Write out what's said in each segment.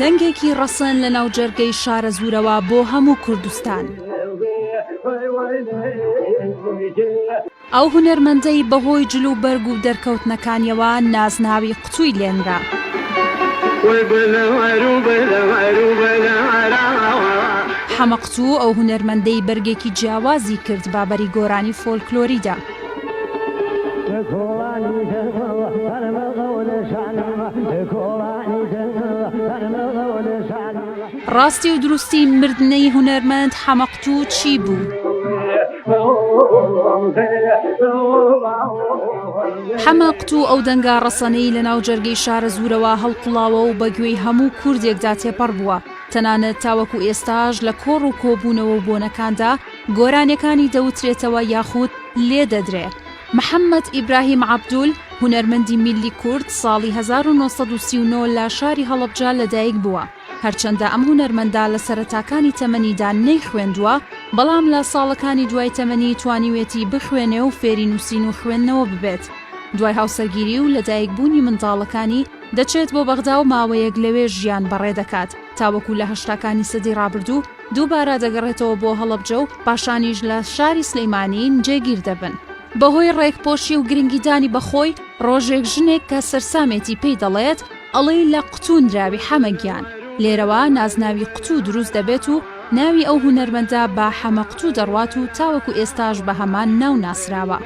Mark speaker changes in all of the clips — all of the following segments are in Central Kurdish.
Speaker 1: دەنگێکی ڕەسەن لە ناوجەرگەی شارەزوورەوە بۆ هەموو کوردستان. ئەو هونەرمەندەی بەهۆی جل و بەرگ و دەرکەوتنەکانیەوە نازناوی قتووی لێنرا. حەمە قتوو ئەو هونەرمەندەی بەرگێکی جیاوازی کرد بە بەری گۆرانی فۆلکلۆریدا. ڕاستی و دروستی مردنەی هونەرمەند حەمە تو چی بو؟ حەمە قتو ئەو دەنگە ڕەسەنەی لە ناو جەرگەی شارەزوورەوە هەڵقوڵاوە و بە گوێی هەموو کوردێکدا تێپەڕ بووە، تەنانەت تاوەکو ئێستاش لە کۆڕ و کۆبوونەوە و بۆنەکاندا گۆرانێکانی دەوترێتەوە یاخود لێ دەدرێ. محەمەد ئیبراهیم عەبدول، هونەرمەندی میللی کورد، ساڵی هەزار و نۆ سەد و سی و نۆ لە شاری هەڵەبجە لە دایک بووە. هەرچەندە ئەم هونەرمەندە لە سەرەتاکانی تەمەنیدا نەیخوێندووە، بەڵام لە ساڵەکانی دوای تەمەنی توانیوێتی بخوێنێ و فێری نووسین و خوێندنەوە ببێت. دوای هاوسەرگیری و لەدایکبوونی منداڵەکانی، دەچێت بۆ بەغدا و ماوەیەک لەوێ ژیان بەڕێ دەکات، تاوەکو لە هەشتاکانی سەدەی ڕابردوو دووبارە دەگەڕێتەوە بۆ هەڵەبجە و پاشانیش لە شاری سلێمانی جێگیر دەبن. بەهۆی ڕێکپۆشی و گرنگیدانی بە خۆی، ڕۆژێک ژنێک کە سەرسامێتی پێی دەڵێت، ئەڵێی لە قوتوو نراوی حەمە گیان لێرەوە نازناوی قوتوو دروست دەبێت و ناوی ئەو هونەرمەندە بە حەمە قوتوو دەڕوات و تاوەکو ئێستاش بە هەمان ناو ناسراوە.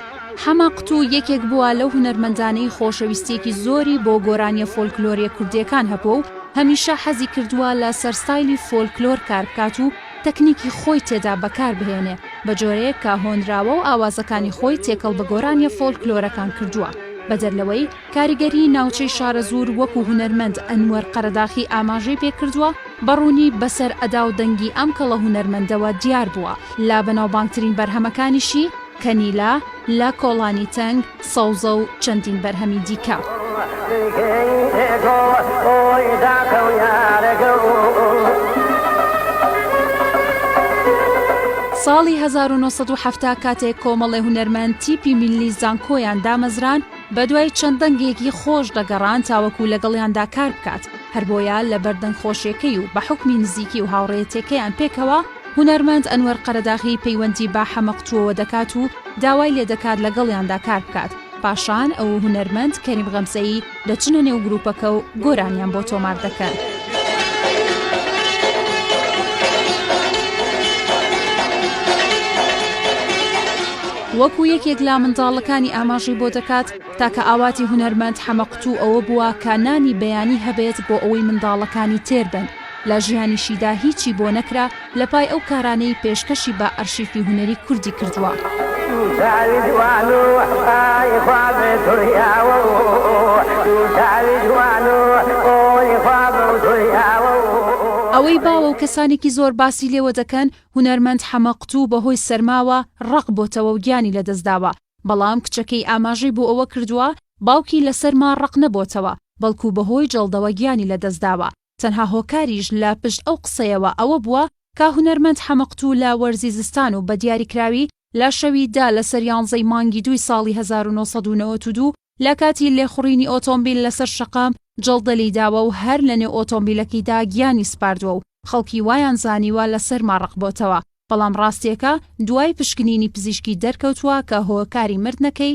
Speaker 1: حەمە قوتوو یەکێک بووە لەو هونەرمەندانەی خۆشەویستییەکی زۆری بۆ گۆرانییە فۆلکلۆرییە کوردییەکان هەبووە و هەمیشە حەزی کردووە لە سەر ستایلی فۆلکلۆر کار بکات و تەکنیکی خۆی تێدا بەکار بهێنێ بە جۆرەیەک کە هۆنراوە و ئاوازەکانی خۆی تێکەڵ بە گۆرانییە فۆلکلۆرەکان کردووە بەدەر لەوەی کاریگەریی ناوچەی شارەزوور وەکو هونەرمەند ئەنوەر قەرەداخی ئاماژەی پێکردووە، بە ڕوونی بەسەر ئەدا و دەنگی ئەم کەڵە هونەرمەندەوە دیار بووە، لە بەناوبانگترین بەرهەمەکانیشی، کەنیلە، لە کۆڵانی تەنگ، سەوزە و چەندین بەرهەمی دیکە. ساڵی هەزار و نۆ سەد و حەفتا کاتێک کۆمەڵێ هونەرمەند تیپی میللی زانکۆیان دامەزراند، بەدوای چەند دەنگێکی خۆش دەگەڕان تاوەکو لەگەڵیاندا کار بکات، هەربۆیە لەبەر دەنگ خۆشیەکەی و بە حوکمی نزیکی و هاوڕێیەتیەکەیان پێکەوە، هونەرمەند ئەنوەر قەرەداغی پەیوەندی بە حەمەق تووەوە دەکات و داوای لێدەکات لەگەڵیاندا کار بکات، پاشان ئەو و هونەرمەند کەریم غەمزەیی دەچنە نێو گروپەکە و گۆرانیان بۆ تۆمار دەکەن. وەکو یەکێک لە منداڵەکانی ئاماژەی بۆ دەکات، تاکە ئاواتی هونەرمەند حەمە قوتوو ئەوە بووە کە نانی بەیانی هەبێت بۆ ئەوەی منداڵەکانی تێر بن لە ژیانیشیدا هیچی بۆ نەکرا لە پای ئەو کارانەی پێشکەشی بە ئەرشیفی هونەری کوردی کردووە. ئەوەی باوە و کەسانێکی زۆر باسی لێوە دەکەن هونەرمەند حەمەقوتوو بەهۆی سەرماوە ڕەق بۆتەوە و گیانی لەدەستداوە، بەڵام کچەکەی ئاماژەی بۆ ئەوە کردووە، باوکی لە سەرما ڕەق نەبۆتەوە، بەڵکو بەهۆی جەڵدەوە گیانی لەدەستداوە، تەنها هۆکاریش لە پشت ئەو قسەیەوە ئەوە بووە کە هونەرمەند حەمەقوتوو لە وەرزی زستان و بە دیاریکراوی لە شەوی دە لەسەر یانزەی مانگی دووی ساڵی هەزار و نۆ سەد و نەوەد و دوو لە کاتی لێخوڕینی ئۆتۆمبیل لەسەر شەقام جەڵدە لێی داوە و هەر لەنێو ئۆتۆمبیلەکەیدا گیانی سپاردووە و خەڵکی وایان زانیوە لە سەرما ڕەق بۆتەوە، بەڵام ڕاستییەکە دوای پشکنینی پزیشکی دەرکەوتووە کە هۆکاری مردنەکەی،